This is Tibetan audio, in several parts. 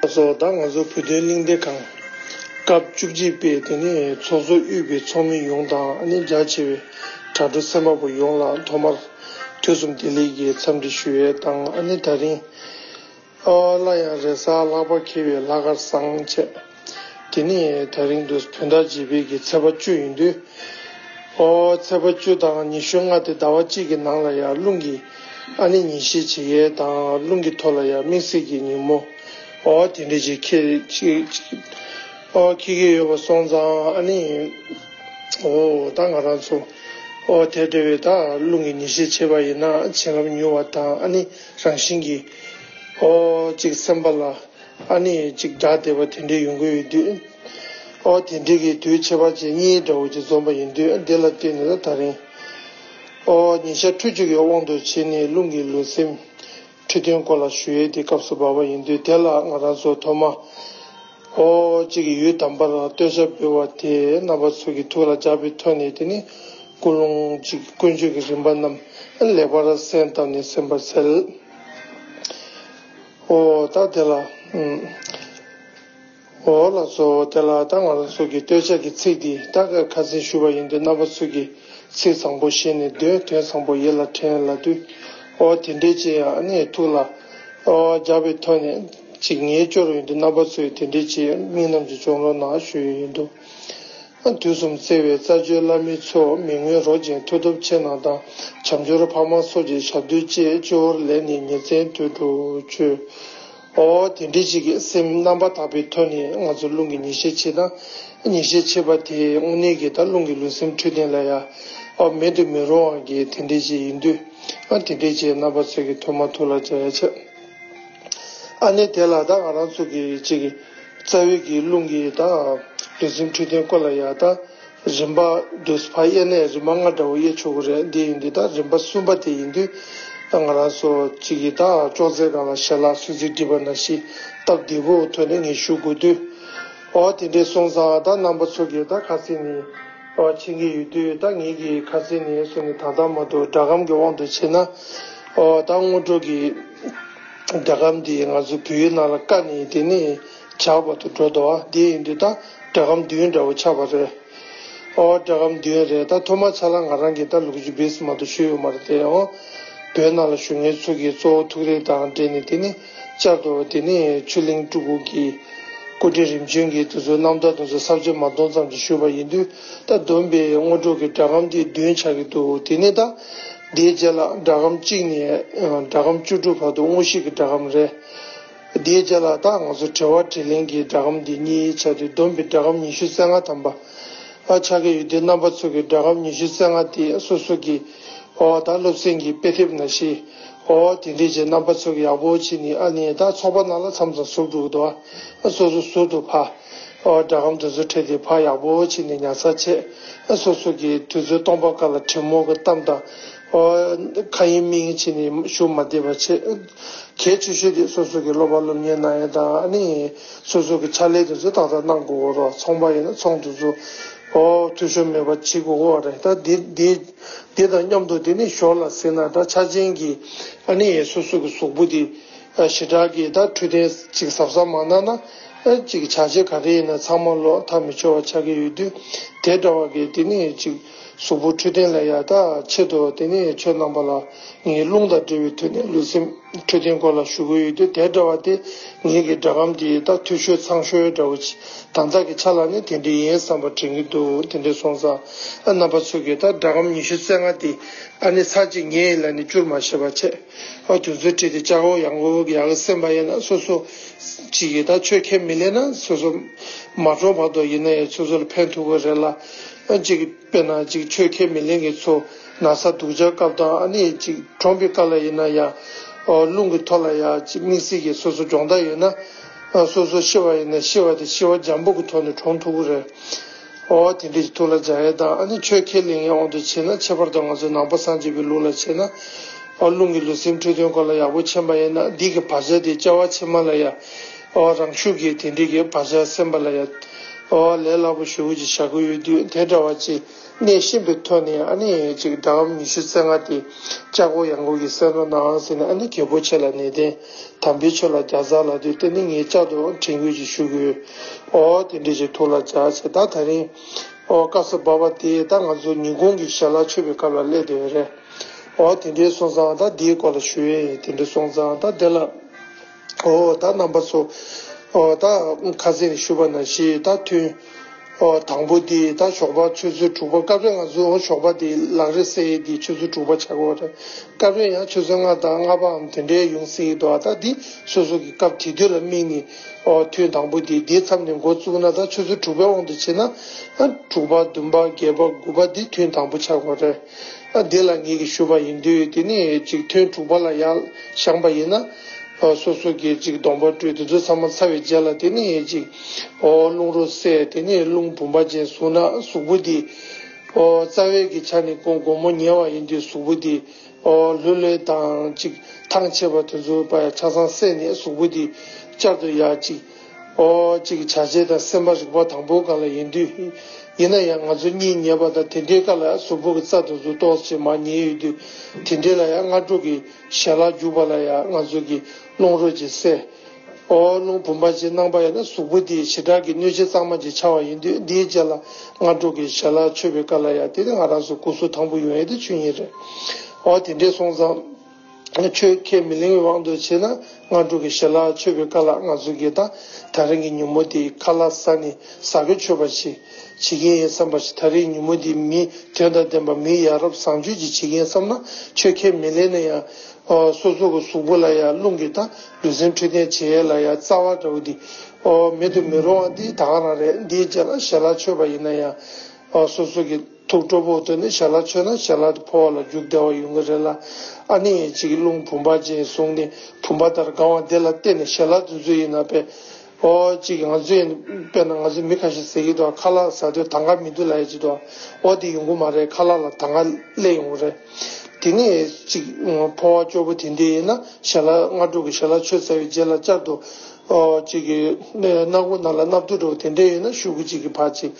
ཚོགས་གཙོ་བདག་ང་ཚོ་བོད་དོན་གླིང་སྡེ་ཁང། སྐབས་བཅུ་གཅིག་པའི་དེ་ནས་ཚོགས་གཙོ་དབུས་པའི་ཚོགས་མི་ཡོངས་དང་རྒྱ་ཆེ་བའི་དྲ་གྲོགས་སེམས་དཔའ་པོ་ཡོངས་ལ་ཐོག་མར་དུས་གསུམ་བདེ་ལེགས་ཀྱི་འཚམས་འདྲི་ཞུ་འོས་དང་ད་རིང། སླར་ཡང་རེས་གཟའ་ལྷག་པ་འཁེལ་བའི་ལྷ་དཀར་བཟང་བཅས། དེ་ནས་ཐག་རིང་དུ་བོན་བདག་རྗེ་འཕེལ་གྱི་ཚལ་པ་བཅུ་ཡོད་འདུག་ཨོ། ཚལ་པ་བཅུ་དང་ཉི་ཤུ་ལྔ་དེ་ཟླ་བ་གཅིག་གི་ནང་ལ་ཡང་རླུང་གི་ཨ་ནི་ཉིན་ཤས་བྱེད་ཡས་དང་རླུང་གི་ཐོ་ལ་ཡང་མིག་གསེར་གྱི་ཉིན་མོ་ཨོ། དེ་འདྲའི་རྗེ་ཁྱེད་ཨོ། ཁྱེད་ཀྱི་ཡོད་པ་སོང་ཙང་ཨ་ནི་ཨོ། ད་ང་རང་ཚོ་ཨོ། དེ་འདྲ་བའི་དག་རླུང་གི་ཉིན་ཤས་བྱེད་པ་ཡིན་ན་བྱིན་རླབས་མྱུར་བ་དང་ཨ་ནི་རང་བཞིན་གྱིས་ཨོ། གཅིག་སེམས་པ་ལ། ཨ་ནི་ཅིག་སྒྲ་བདེ་བ་དེ་འདྲའི་ཡོང་གི་ཡོད་དུས། ཨོ་དེ་འདྲའི་གི་དུས་ཁྱད་པར་ཅན་གཉིས་དགྲ་བོ་ཅིག་འཛོམས་པ་ཡིན་དུས་དེ་ལ་བརྟེན་ནས་ད་རིང། ཨོ་ཉི་ཤར་ཁྲུ་བཅུ་གའི་དབང་དུ་བྱས་ནས་རླུང་གི་ལུས་སེམས། ཁྲི་འདོན་སྐོར་ལ་ཞུ་ཡས་དེ་སྐབས་སུ་བབས་པ་ཡིན་དུས་དེ་ལ་ང་རང་ཚོ་ཐོག་མ། ཨོ་ཅིག་གི་ཡུལ་དམ་པར་བསྟོད་བྱ་འབུལ་བ་དེ་རྣམ་པ་ཚོ་གི་ཐུགས་ལ་འཇགས་པའི་ཐོག་ནས་དེ་ནི་ཀུན་སློང་ཅིག་དཀོན་མཆོག་གི་རིམ་པ་རྣམས་ལེགས་པར་གསན་བཏབ་ནས་ཟིན་པར་འཚལ། འོ་ད་དེ་ལ། འོ་ལ་གཙོ་བོ་དེ་ལ་ད་ང་རང་ཚུགས་ཀྱི་སྟོད་ཆ་གི་ཚིག་འདི་ད་གའི་ཁ་ཚིག་ཞུ་བ་ཡིན་དུས་རྣམ་པ་ཚུགས་ཀྱི་ཚིག་བཟང་པོ་ཞེས་ནས་འདོད་དོན་བཟང་པོ་ཡིད་ལ་དྲན་ལ་དུས། འོ་དེ་འདྲའི་ཅི་ཡང་ཨ་ནེའི་ཐུགས་ལ། འོ་རྒྱག་པའི་ཐོག་ནས་ཅིག་ངེས་སྐྱོར་ཡིན་དུས་རྣམ་པ་ཚུགས་ཀྱི་དེ་འདྲའི་ཅིག་མིག་རྣམ་ཅིག་ཅོང་རོ་ནག་ཞུ་ཡི་ཡིན་དུས། དུས་གསུམ་བརྩེ་བའི་རྩ་བརྒྱུད་བླ་མའི་ཚོགས་མི་ངོས་རོགས་ཅན་མཐུ་སྟོབས་ཆེ་གནང་དང་བྱམས་སྦྱོར་ཕ་མ་སོགས་ཀྱི་ཞབས་རྡུལ་བཅས་སྤྱི་བོར་ལེན་ནས་ཉིན་མཚན་དུས་དྲུག་མཆོད། ཨོ་དེ་འདྲའི་གཅིག་གི་སེམས་རྣམ་པར་དག་པའི་ཐོག་ནས་ང་ཚོ་རླུང་གི་ཉི་ཤེལ་ཕྱེད་དང་ཉི་ཤེལ་ཕྱེད་པ་དེས་དངོས་གནས་ཀྱི་ད་རླུང་གི་ལུས་སེམས་འཁྲུལ་ལྡན་ལ་ཡ་ཨོ་མེད་དུ་མི་རུང་བ་གི་དེ་འདྲའི་ཅིག་ཡིན་དུས་དེ་འདྲའི་ཅིག་རྣམ་པ་ཚོས་ཀྱི་ཐུགས་མ་ཐུགས་ལ་བཅའ་ཡ་ཆེ། ཨ་ནི་དེ་ལ་ད་ང་རང་ཚོ་གི་ཅིག་གི། རྩ་བའི་གི་རླུང་གི་ཡི་དྭགས། རིག་འཛིན་འཁྲུལ་ལྡན་ཀོ་ལ་ཡ། ད་རིམ་པ་བདུད་སྤ་གཡས་ནས་རིམ་པ་ལྔ་འདྲ་བོ་གཡས་ཆོས་སྐུ་རེད་འདི་ཡིན་འདི་དང་རིམ་པ་གསུམ་པ་དེ་ཡིན་དུས་ང་རང་སོ་གཅིག་ཡི་དྭགས་ཅོག་ཙེ་གང་ལ་ཞལ་ལག་སུས་ཚིག་འདྲིས་པ་ན་གཞི་སྟབས་བདེ་བོ་ཐོན་ནས་ངས་ཞུ་དགོས་དུས། ཨོ་དེ་འདྲའི་སོང་ཙང་ད་རྣམ་པ་ཚོ་གི་ད་ཁ་རྩིས་ནི་ཨོ་ཕྱིན་གི་ཡོད་དུས་ད་ངེད་ཀྱི་ཁ་རྩིས་ནི་སུ་ནི་ད་ད་མ་འདུག་སྒྲ་སྒམ་གི་དབང་དུ་བྱས་ན་ཨོ་ད་སྔོ་དྲོ་གི། རྒྱ་གར་འདི་ང་ཚོའི་བོད་ཡུལ་ནང་ལ་དཀའ་ནི་དེ་ནི་ཇག་པ་དུ་འགྲོ་དོ་འདི་ཡིན་དུས་ད་སྒྲ་གམ་བདུན་འདྲ་བོ་ཆགས་པ་རེད་ཨོ་སྒྲ་གམ་བདུན་རེད་ད་ཐོ་མ་ཆ་ལ་ང་རང་གི་ད་ལུག་ཇུ་བིས་མ་དུ་ཞུ་ཡོད་མ་རེད་དེ་ཨོ་བོད་ནང་ལ་ཞུ་ངའི་ཚུགས་ཀྱི་གཙོ་བོ་ཐུགས་རེ་དང་འབྲེལ་ནི་དེ་ནི་བཅར་དོ་དེ་ནི་ཆུ་ལིང་སྤྲུ་གུ་གི་སྐུ་རྟེན་རིམ་བྱོན་གྱི་དུ་ཚོད་རྣམ་ཐར་དུ་ཚོད་གསར་བརྗེ་མ་གཏོང་ཙམ་གྱི་ཞུ་བ་ཡིན་དུས་ད་བསྡོམས་པའི་དངོས་གྲུབ་ཀྱི་སྒྲ་གམ་འདི་བདུན་ཆགས་ཀྱི་འདུག་དེ་ནི་ད། དེའི་རྗེས་ལ་སྒྲ་སྒམ་གཅིག་ནས་སྒྲ་སྒམ་བཅུ་དྲུག་བར་དུ་དངོས་གཞི་གི་སྒྲ་སྒམ་རེ། དེའི་རྗེས་ལ་ད་ང་ཚོ་དྲི་བ་དྲིས་ལན་གྱི་སྒྲ་སྒམ་དེ་གཉིས་བྱས་ཏེ་བསྡོམས་པའི་སྒྲ་སྒམ་ཉི་ཤུ་རྩེ་ལྔ་ཐམ་པ་ཆགས་ཀྱི་ཡོད་དེ་རྣམ་པ་ཚོགས་ཀྱི་སྒྲ་སྒམ་ཉི་ཤུ་རྩེ་ལྔ་དེ་སོ་སོ་གི་ཨོ་ཨོ་དང་སློབ་ཚན་གྱི་དཔེ་དེབ་ན་ཤི་ཨོ་ཨོ་དེ་འདྲས་ཀྱི་རྣམ་པ་ཚོགས་ཡག་པོ་བྱས་ནས་ཨ་ནི་ད་ཚོགས་པ་ནང་ལ་མཚམས་མཚམས་ཟུར་དྲུག་དུ་ཨ་སོ་སོ་ཟུར་དུ་ཕ། སྒྲ་སྒམ་དུད་ཚོད་ཁྲིད་དེ་ཕར་ཡག་པོ་ཕྱིན་ནས་ཉར་ཚགས་བྱས། སོ་སོ་གིས་དུད་ཚོད་སྟོང་པ་ཀ་ལ་དྲེད་མོང་གི་གཏམ་དང། མཁའ་དབྱིངས་སྨིན་བྱས་ནས་ཞུགས་མ་བདེ་བ་བྱས། གལ་ཆེ་ཤོས་དེ་སོ་སོ་གིས་སློབ་པ་སློབ་གཉེར་གནང་ཡུལ་དང། སོ་སོ་གི་ཕྱག་ལས་དུད་ཚོད་ཏག་ཏག་གནང་དགོས་བོ་རོགས་ཚོང་པ་ཡིན་ན་ཚོང་དུད་ཚོད་འཐུས་ཤོར་མེད་པ་བྱེད་དགོས་བོ་རེད་ད། དེ་དང་མཉམ་དུ་དེ་ནི་ཞོར་ལ་ཟེར་ན་ད་ཆ་ཅན་གྱི་སོ་སོ་གི་གཟུགས་པོ་དེ་ཞི་དྲག་གིས་ད་འཕྲོད་བསྟེན་ཅིག་ཟབ་ཟབ་མ་གནང་ན། ཨེ་ཅིག་བྱ་བྱེད་ག་རེ་ཡིན་ན་ཚང་མ་ལོག་ཐག་མི་ཆོད་བ་ཆགས་ཀྱི་ཡོད་དུས་དེ་འདྲ་བ་གས་དེ་ནི་ཨེ་ཅིག་གཟུགས་པོ་འཕྲོད་བསྟེན་ལ་ཡག་ཐག་ཆད་དོ་དེ་ནི་ཨེ་ཆོས་རྣམ་པ་ལ་ངའི་རླུང་དང་འབྲེལ་བའི་དུས་ནས་ལུས་སེམས་འཕྲོད་བསྟེན་སྐོར་ལ་ཞུ་གི་ཡོད་དུས་དེ་འདྲ་བ་དེ་ངེད་ཀྱི་སྒྲ་སྒམ་དེ་ཡི་ད་ཐུ་ཤོད་ཚང་ཤོད་འདྲ་བོ་དང་ཐག་གི་ཆ་ལ་ནི་དེ་འདྲའི་ཡིན་བསམ་པ་དྲན་གྱི་འདུག་དེ་འདྲའི་སོང་ས་རྣམ་པ་ཚོས་གས་ད་སྒྲ་སྒམ་ཉི་ཤུ་རྩེ་ལྔ་དེ་ཨ་ནི་ཚར་གཅིག་ངས་ཡིད་ལ་ནི་བསྐྱུར་མ་ཤེས་པ་བྱས། ཨོ་དུས་ཚོད་དྲིས་ཏེ་ལྕགས་ཨོ་ཡང་ཨོ་ཡག་གི་སེམས་པ་ཡེ་ན་སོ་སོ་ཅིག་ཡིན་ད་ཆོས་ཁས་མི་ལེན་ན་སོ་སོ་མ་གྲོངས་བར་དོ་ཡིན་ན་ཡང་སོ་སོ་ལ་ཕན་ཐོག་གི་རེད་ལ་ཅིག་དཔེར་ན་ཅིག་ཆོས་ཁས་མི་ལེན་གི་ཚོ་ན་ས་སྡུག་ཆགས་སྐབས་དང་ཨ་ནི་ཅིག་གྲོངས་པའི་སྐབས་ལ་ཡིན་ན་ཡང་ཨོ་རླུང་གི་ཐོག་ལ་ཡང་ཅིག་དམིགས་བསལ་གྱི་སོ་སོ་སྦྱོང་བརྡར་ཡོད་ན་སོ་སོ་ཤི་བ་ཡིན་ན་ཤི་བ་དེ་ཤི་བ་འཇམ་པོ་གི་ཐོག་ནས་གྲོངས་ཐུག་གི་རེད། ཨོ་དེ་འདྲས་ཀྱི་ཐུགས་ལ་སྦྱང་ཡས་དང་ཨ་ནི་ཆོས་ཁས་ལེན་ཡས་འོང་དུ་བྱེད་ན་ཁྱད་པར་དུ་ང་ཚོའི་ནང་པ་སངས་རྒྱས་པའི་ལུགས་ལ་བྱེད་ན། ཨོ་རླུང་གི་ལུས་སེམས་འཁྲུལ་དོན་གོ་ལ་ཡག་པོ་མཁྱེན་པ་ཡས་ན་འདིས་ཀྱི་བག་ཆགས་དེ་བཅའ་བ་ཕྱི་མ་ལ་ཡ། ཨོ་རང་ཤུགས་ཀྱིས་དེ་འདྲས་ཀྱི་བག་ཆགས་སེམས་པ་ལ་ཡ། ཨོ་ལས་སླ་པོ་ཞུ་ཀྱི་བྱ་དགོས་ཡོད་དུས་དེ་འདྲ་བ་ཅི་གནས་གཤིན་པོའི་ཐོད་ནས་ཨ་ནི་ཡས་ཅིག་དགྲ་བམ་ཉི་ཤུ་རྩེ་ལྔ་དེ་ལྕགས་སྒོ་ཡང་སྒོ་གི་སེང་རོ་ནའང་ཟིན་ཨ་ནི་གལ་པོ་ཆེ་ལ་ནས་བསྟན། དམ་པའི་ཆོས་ལ་བརྒྱ་རྩ་ལ་དུས་དེ་ནས་ངས་ལྕགས་སྡོད་དྲན་སྐུལ་གྱིས་ཞུ་གི། ཨོ། དེ་འདྲས་ཀྱི་ཐུགས་ལ་བཅག་ཅེས་ད་ཐག་རིང། ཨོ། སྐབས་སུ་བབས་པ་དེ་ད་ང་ཚོ་ཉིན་གུང་གི་ཞལ་ལག་མཆོད་པའི་སྐབས་ལ་སླེབས་བསྡད་པ་རེད། ཨོ། དེ་འདྲའི་སོང་ཙང་ད་དེའི་སྐོར་ལ་ཞུ། དེ་འདྲའི་སོང་ཙང་ད་དེ་ལ། ཨོ། ད་རྣམ་པ་ཚོ། ཨོ། ད། ཁ་ཟས་ཞུ་བ་ན་ཞེས་ད་ཐུན། དང་པོ་དེ་ད་ཞོགས་པ་ཆུ་ཚོད་དྲུག་པ་སྐབས་རེ་ང་ཚོས་འོ་ཞོགས་པ་དེ་ལག་རེད་ཟེར་ཡས་དེ་ཆུ་ཚོད་དྲུག་པ་ཆགས་དགོས་པ་རེད་སྐབས་རེ་ཡང་ཆུ་ཚོད་ལྔ་དང་ལྔ་པའམ་དེ་འདྲའི་ཡོང་སྲིད་ཡས་དོ་ད་དེ་སོ་སོ་གི་སྐབས་དེ་དུས་ལ་དམིགས་ནས་ཐུན་དང་པོ་དེ་དེའི་མཚམས་ནས་འགོ་བཙུགས་ན་ད་ཆུ་ཚོད་དྲུག་པའི་དབང་དུ་བྱས་ན་དྲུག་པ་བདུན་པ་བརྒྱད་པ་དགུ་པ་དེ་ཐུན་དང་པོ་ཆགས་དགོས་རེད་དེ་ལ་ངེད་ཀྱི་ཞུ་བ་ཡིན་དུས་དེ་ནས་ཅིག་ཐུན་དྲུག་པ་ལ་ཡག་བཞངས་པ་ཡིན་ན་སོ་སོ་གི་ཅིག་གདོང་པ་བཀྲུས་དེ་ཚོ་ཚང་མ་ཚར་བའི་རྗེས་ལ་དེ་ནས་ཅིག། ཨོ་རླུང་རོ་བསྲེག་དེ་ནས་རླུང་བུམ་པ་ཅན་གཟུགས་ནག་གཟུགས་པོ་འདི། ཨོ་རྩ་བའི་གི་ཆ་ནི་ཀོང་གོང་མོ་ཉལ་བ་ཡིན་དུས་གཟུགས་པོ་འདི། ཨོ་ལྷོད་ལྷོད་དང་ཅིག་ཐང་ཆད་པ་དུས་ཚོད་པ་ཡང་ཆ་ཚང་བསྲེག་ནས་གཟུགས་པོ་འདི། ཅར་དུ་ཡ་ཅིག། ཨོ་ཅིག་བྱ་བྱེད་དང་སེམས་པ་རིག་པ་དང་པོ་ག་ལ་ཡིན་དུས། ཡིན་ན་ཡང་ང་ཚོ་གཉིད་ཉལ་བ་དང་དེ་འདྲའི་ཀ་ལ་གཟུགས་པོ་གི་རྩ་དུས་ཚོད་རྟོགས་བྱེད་མ་ཉལ་ཡོད་དུས་དེ་འདྲའི་ལ་ཡང་སྔ་དྲོ་གི་ཞལ་ལག་རྒྱུག་པ་ལ་ཡང་ང་ཚོ་གི་རླུང་རོ་ཅིག་བསྲེག། ཨོ་རླུང་བུམ་པ་ཞེས་སྣང་བ་ཡོད་ན་གཟུགས་པོ་དེའི་བྱེ་བྲག་གིས་གནོད་བྱེད་གཙང་མ་ཅིག་འཆར་བ་ཡིན་དུས་འདིའི་རྗེས་ལ་སྔ་དྲོ་གི་ཞལ་ལག་མཆོད་པའི་བཀའ་ལ་ཡང་དེ་ནི་ང་རང་ཚོའི་སྐུ་གཟུགས་དང་པོ་ཡོང་ཡས་དེ་ཆུ་ཉིད་རེད། འོ་དེ་འདྲས་སོང་ཙང། ཁྱོད་ཁས་མི་ལེན་བའི་དབང་དུ་བྱས་ན་སྔ་དྲོ་གི་ཞལ་ལག་མཆོད་པའི་བཀའ་ལ་ང་ཚོ་དགེ་རྟག་ད་རིང་གི་ཉུ་མོ་དེའི་ཁ་ལ་ས་ནི་ཟ་གི་མཆོད་པ་ཞིག་བྱེད་མཁན་ཡིན་བསམ་པ་ཞིག་ད་རིང་ཉུ་མོ་དེའི་མིས་དོན་དང་ལྡན་པ་མིའི་ཡ་རབས་བཟང་སྤྱོད་ཅིག་བྱེད་མཁན་བསམ་ན་ཁྱོད་ཁས་མི་ལེན་ན་ཡང་སོ་སོ་གི་གཟུགས་པོ་ལ་ཡང་རླུང་གིས་དང་ལུས་སེམས་འཁྲུལ་རྟེན་བྱེད་ཡས་ལ་ཡང་རྩ་བ་འདྲ་བོ་འདི། མེད་དུ་མི་རུང་བ་འདི་དག་རང་རེད་འདིའི་རྗེས་ལ་ཞལ་ལག་མཆོད་པ་ཡིན་ན་ཡང། སོ་སོ་གི་ཐུགས་སྤྲོ་བོ་བཏོན་ནས་ཞལ་ལག་མཆོད་ན་ཞལ་ལག་དེ་འཕོ་བ་ལ་རྒྱུ་བདེ་བ་ཡོང་གི་རེད་ལ། ཨ་ནི་ཡས་ཅིག་རླུང་བུམ་པ་ཅན་བཟུང་ནས་བུམ་པ་ལྟར་སྒང་བ་འདི་ལ་བལྟས་ནས་ཞལ་ལག་འཛུལ་ཚུལ་ཡིན་ན་དཔེ། ཨོ། ཅིག་ང་ཚོས་ཡིན། དཔེར་ན་ང་ཚོས་མི་ཁ་ཤས་ཟེར་གྱི་འདུག་ཁ་ལག་ཟ་དུས་ད་གར་མི་འདུག་ལ་ཡ་གཅིག་འདུག་ཨོ་དེ་ཡོང་གི་མ་རེད་ཁ་ལག་ལ་ད་གར་སླེབས་ཡོང་གི་རེད། དེ་ནས་ཅིག་ཕོ་བ་སྐྱོ་པོ་དེ་འདྲས་ཡིན་ན་ཞལ་ལ་སྔ་དྲོ་གི་ཞལ་ལག་མཆོད་ཚར་བའི་རྗེས་ལ་བཅར་འདུག་ཨོ། ཅིག་གི་སྣ་སྒོ་རྣ་ལ་སྣབས་བརྡོལ་འགྲོ་བ་དེ་འདྲས་ཡོད་ན་ཤུ་གུ་ཅིག་གི་ཕར་ཅིག།